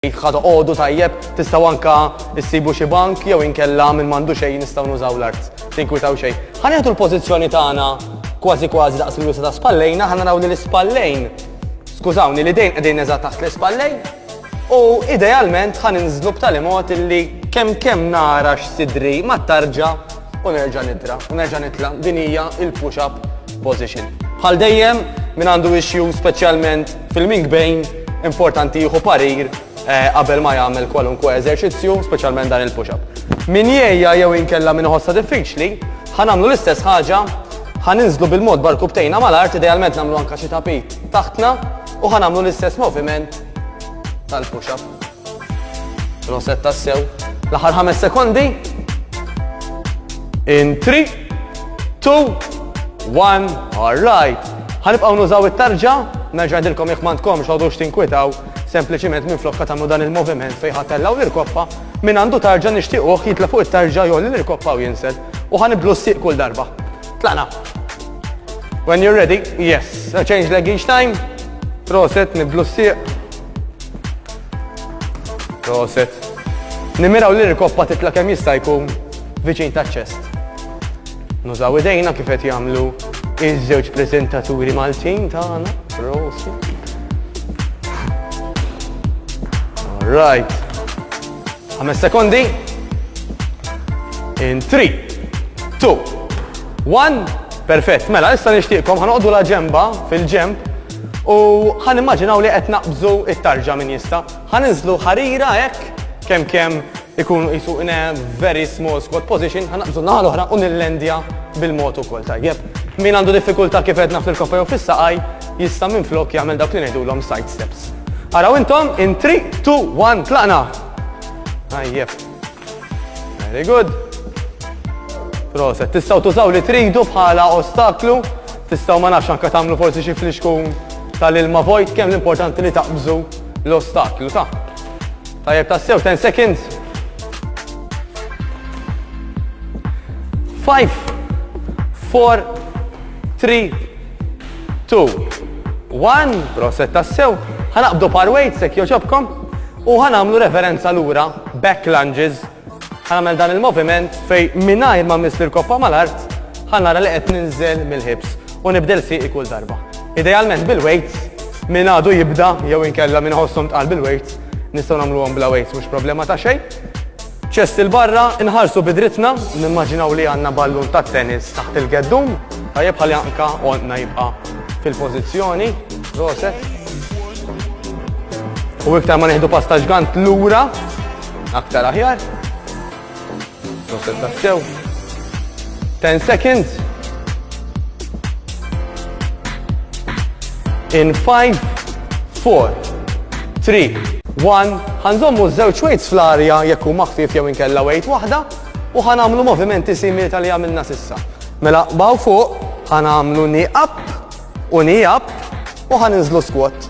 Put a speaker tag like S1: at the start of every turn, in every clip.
S1: Jekk ħa toqogħdu tajjeb, tistgħu anka issibu xi bank jew inkella minn m'għandu xejn nistgħu nużaw l-art. Tinkwitaw xejn. Ħa nieħdu l-pożizzjoni tagħna kważi kważi daqs il-wisa ta' spallejna, ħa naraw li l-ispallejn, skużawni, li dejn qegħdin eżatt taħt l-ispallejn, u idealment ħa ninżlu b'tali mod illi kemm kemm nara x'sidri ma tarġa' u nerġa' nidra u nerġa' nitla' din hija il-push up position. Bħal dejjem min għandu issue speċjalment fil-mink bejn importanti jieħu parir eh, qabel ma jagħmel kwalunkwe eżerċizzju, speċjalment dan il-push up. Min jgħejja jew inkella min ħossa diffiċli, ħanamlu l-istess ħaġa ħaninżlu bil-mod barku btejna mal-art, idealment namlu anka xi tapit taħtna u ħanamlu l-istess moviment tal-push-up. Proset tassew. L-aħħar ħames sekondi. In 3, 2, 1, all right. Ħanibqaw nużaw it-tarġa, nerġa' dilkom jekk m'għandkom xogħdux tinkwitaw sempliċiment minn flokka tagħmlu dan il-moviment fejn ħatellaw l-irkoppa minn għandu tarġa nixtiequh jitla fuq it-tarġa jew l-irkoppa u jinsel u ħanibdlu s-sieq kull darba. Tlaqna. When you're ready, yes. Change leg each time. Proset, nibdlu s-sieq. Proset. Nimiraw li l-koppa titla kemm jista' jkun viċin ta' ċest. Nużaw idejna kif qed jagħmlu iż-żewġ preżentaturi Maltin tagħna. Proset. All right. Ħames sekondi. In 3, 2, 1. Perfett. Mela, issa nixtieqkom ħanoqdu la ġemba fil-ġemb U ħa nimmaġinaw li qed naqbżu it-tarġa min jista'. Ħa ninżlu ħarira hekk kemm kemm ikunu qisu in a very small squat position, ħa naqbżu naħa l-oħra u nillendja bil-mod ukoll tajjeb. Min għandu diffikultà kif għedna fil-koffa jew fis-saqaj jista' minflok jagħmel dawk li ngħidulhom side steps. Araw intom in 3, 2, 1 tlaqna! Tajjeb. Very good. Proset, tistaw tużaw li tridu bħala ostaklu, tistaw ma nafx anka tamlu forsi xi flixkun tal-ilma vojt kemm l-importanti li taqbżu l-ostaklu ta' tajjeb ta' sew 10 seconds. 5 4 3 2 1 proset ta' sew ħanaqbdu par weight sekk joġobkom U ħa nagħmlu referenza lura, back lunges, ħa nagħmel dan il-moviment fej mingħajr ma miss l-koppa mal-art, ħa nara li qed ninżel mill-ħibs u nibdel siqi kull darba. Idealment bil-weights, minn għadu jibda jew inkella minn ħossom tqal bil-weights, nistgħu nagħmluhom bla weights mhux problema ta' xejn. Ċest 'il barra, inħarsu bi drittna, nimmaġinaw li għandna ballun tat-tennis taħt il-geddum. Tajjeb ħalli anka għonqna jibqa' fil-pożizzjoni. Roset. U iktar ma nieħdu pasta ġgant lura, aktar aħjar. Roset tassew. 10 seconds. In 5, 4, 3, 1. Ħanżommu żewġ weights fl-arja jekk hu maħfif jew inkella weight waħda u ħanamlu movimenti simili tal-li għamilna sissa. Mela baw fuq, ħanamlu ni up u ni up U ħan inżlu squat.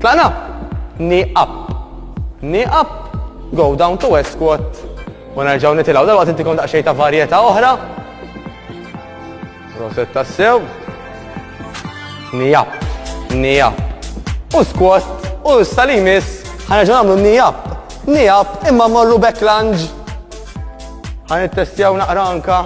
S1: Tlaqna? Ni up. Ni up. Go down to a squat. U nerġaw nitilaw. Dal-waqt intikom daqxej ta' varjeta oħra. Roset ta' sew. Ni up. Ni up. U squat. U s-salimis. Ħanerġaw namlu ni up. Ni up. Imma morru back lunge. Ħan it-testjaw naqra anka.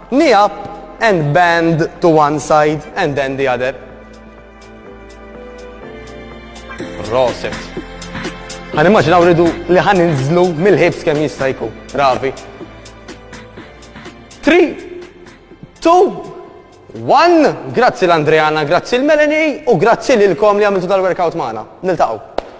S1: Knee up and bend to one side and then the other. Roset. Għan immaġinaw ridu li għan inżlu mill-ħibs kem jistajku. Ravi. 3, 2, 1. Grazzi l-Andreana, grazzi l-Melanie u grazzi lilkom li għamiltu dal-workout maħna. Niltaqaw.